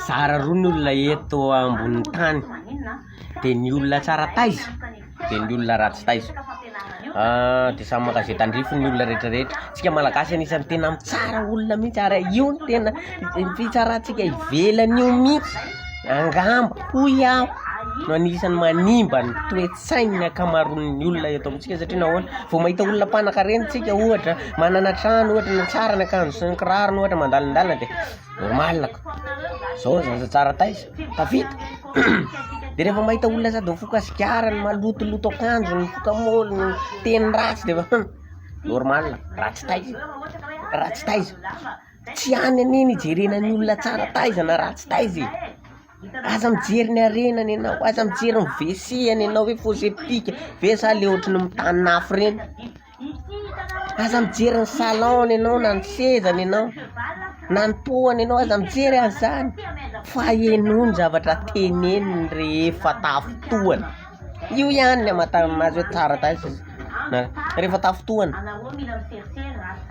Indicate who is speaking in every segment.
Speaker 1: Zara roa ny olona eto ambonin'ny tany, dia ny olona tsara taiza, dia ny olona ratsy taiza, dia samy mankazia tandrify ny olona rehetra rehetra, tsika malagasy anisany tena mitsara olona mihintsy, ary io no tena fitsarantsika ivelany io mihintsy, angamba hoy aho no anisany manimba ny toetra. sain'ny ankamaroan'ny olona eto amintsika satria nahoana vao mahita olona mpanankarena tsika ohatra manana trano ohatra na tsara ny akanjo sy ny kirarony ohatra mandalindalina dia normal ko zao zaza tsara taiza tafita dia rehefa mahita olona sady mifoka sigara ny malotoloto akanjo ny mifoka moly ny teny ratsy dia efa normal ratsy taiza ratsy taiza tsy any anie ny ijerena ny olona tsara taiza na ratsy taiza e Aza mijery ny harena ny anao, aza mijery ny WC ny anao hoe fosse septic ve sa le ohatry ny mitanina afo reny, aza mijery ny salon ny anao na ny seza ny anao, na ny toa ny anao, aza mijery an'izany fa henoy ny zavatra teneniny rehefa tafintohana. Io ihany ny amantarana an'azy hoe tsara taiza izy na rehefa tafintohana,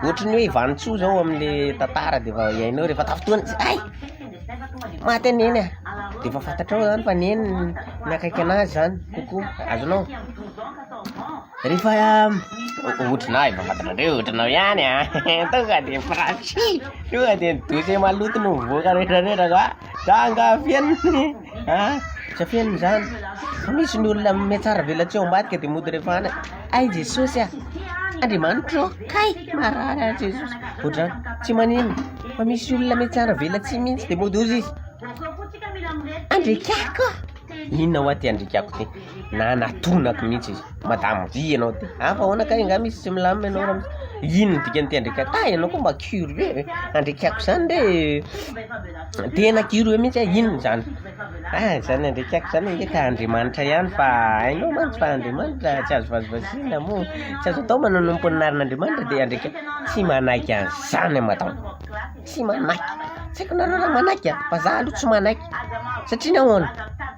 Speaker 1: ohatry ny hoe i vanintsoa zao amle tantara de efa hiainao rehefa tafintohana izy hay! maty anie neh, de efa fantatrao zany fa neny ny akaiky an'azy zany kokoa, azonao? rehefa ohatrinah efa fantatrareo ohatranao ihany an! tonga de prank, tonga de ny dossier maloto no mivoaka retraretra fa zah angaha feno. Ah! Aza feno izany, fa misy ny olona mihatsara velatsihy ao ambadika dia mody rehefa any, hay Jesosy ah! Andriamanitra ô! Kay! Marary aho Jesosy! Ohatr'izany, tsy maninona, fa misy olona mihatsara velatsihy mihitsy dia mody hozy izy, Andriakako ah! Inona hoa ty Andriakako ty? na natonako mihitsy izy madame vy ianao dia ah fa ahoana kay angaha misy tsy milamina ianao raha misy inona no dikan'ity andriakaiko ah ianao koa mba curieux e andriakaiko izany re tena curieux mihitsy aho inona izany ah izany andriakaiko izany ange ka andriamanitra ihany fa hainao mantsy fa andriamanitra tsy azo vazivaziana moa tsy azo atao manao ny amponinarin'andriamanitra dia andriakaiko tsy manaiky an'izany aho madama tsy manaiky tsy haiko nareo raha manaiky ah fa za aloha tsy manaiky satria nahoana